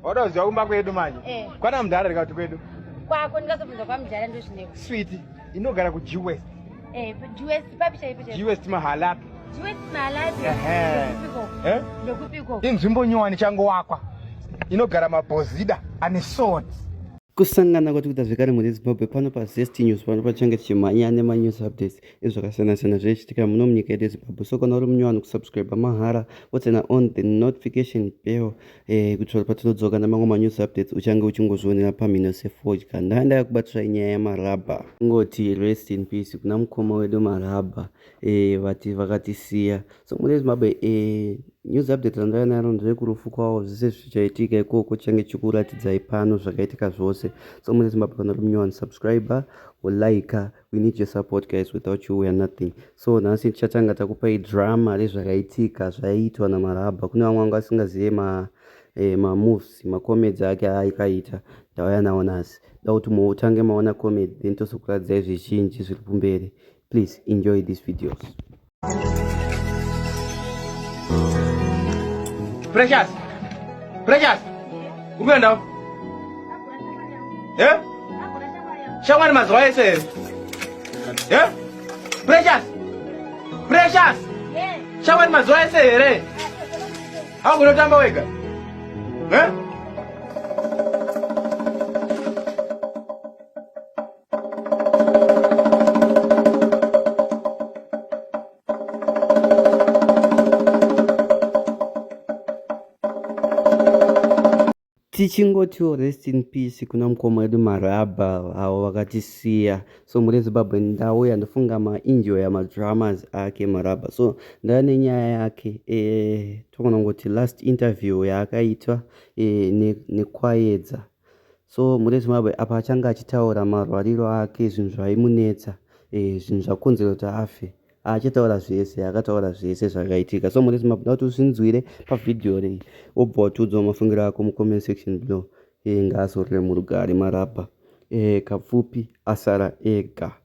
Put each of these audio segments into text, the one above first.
Wada uziwa kumba kwedu manje. Eh. Kwana mdara rika kuti kwedu. Kwako ndikazobvunza kwa mdara ndo zvineko. Sweet, inogara ku G West. Eh, G West papi chaipo chaipo. G West mahala. G West mahala. Eh. Eh? Ndokupiko. Inzvimbo nyowani chango wakwa. Inogara mabhozida ane swords. Kusangana kwatikuita zvekare mu Zimbabwe pano pa Zest News pano pachange tichimhanya nema news updates. ezvakasiyana siyana zvaichitika muno munyika yedu yezimbabwe so kana uri munye vanhu kusubscribe mahara wotsena on the notification bell eh, kuitira patinodzoka namamwe manews updates uchange uchingozvionera pamhino sefodya ndaenda yakubatiswa inyaya yamarabha ingoti rest in peace kuna mukoma wedu marabha eh, vati eh, vakatisiya so mune zimbabwe eh, news update randava naro ndevekurufu kwavo zvese zvichaitika ikoko change chikuratidzai pano zvakaitika zvose so mune zimbabwe kana uri munye vanhu subscriber wolaika like, we need your support guys without you weare nothing so nhasi tichatanga takupai drama rezvakaitika zvaiitwa namarabha kune vamwe vanga vasingazive ma eh, mamoves macomedy ake aikaita ndauya nawo nhasi da kuti mutange maona comedy then tozokuradzai zvizhinji zviri kumberi please enjoy these videos Precious. Precious. Umeenda? Eh? Shamba ni mazoea ese. Eh? Precious. Precious. Shamba ni mazoea ese ere. Hau kunotamba wega. Eh? tichingotiwo rest in peace kuna mukoma wedu marabha avo vakatisiya so muri zimbabwe ndauya ndofunga mainjoya madramas ake marabha so ndava nenyaya yake e, eh, togona kuti last interview yaakaitwa e, eh, nekwayedza ne So mune Zimbabwe apa achange achitaura marwariro ake zvinhu zvaimunetsa eh, zvinhu zvakonzera kuti afe achataura zvese akataura zvese zvakaitika so mune Zimbabwe kuti usinzwire pavhidhiyo rei wobva watiudzawo mafungiro ako mucomment section below eh, ngaazorore murugare marabha eh, kapfupi asara ega eh,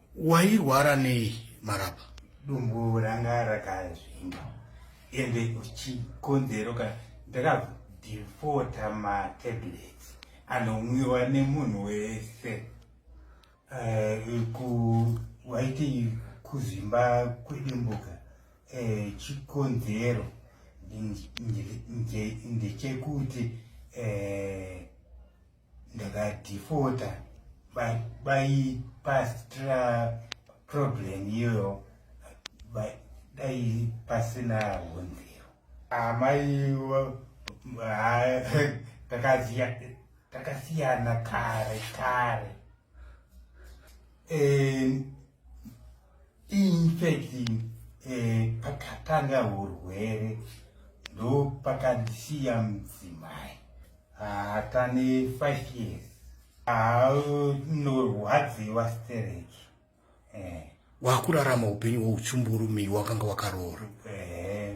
wairwara nei marapa dumbu ranga rakazvimba ende chikonzero kana ndakadhifota matablets anomwiwa nemunhu wese uh, waiti kuzvimba kwedumbuka uh, eh, chikonzero ndechekuti uh, ndakadhifota baipastra problem iyoyo dai pasina hunziro amai takasiyana kare kare infact eh, pakatanga hurwere ndo pakandisiya mudzimai hatane five years haunorwadziwa stereki eh. wakurarama upenyu hweuchumburumiwa wakanga wakaroora eh,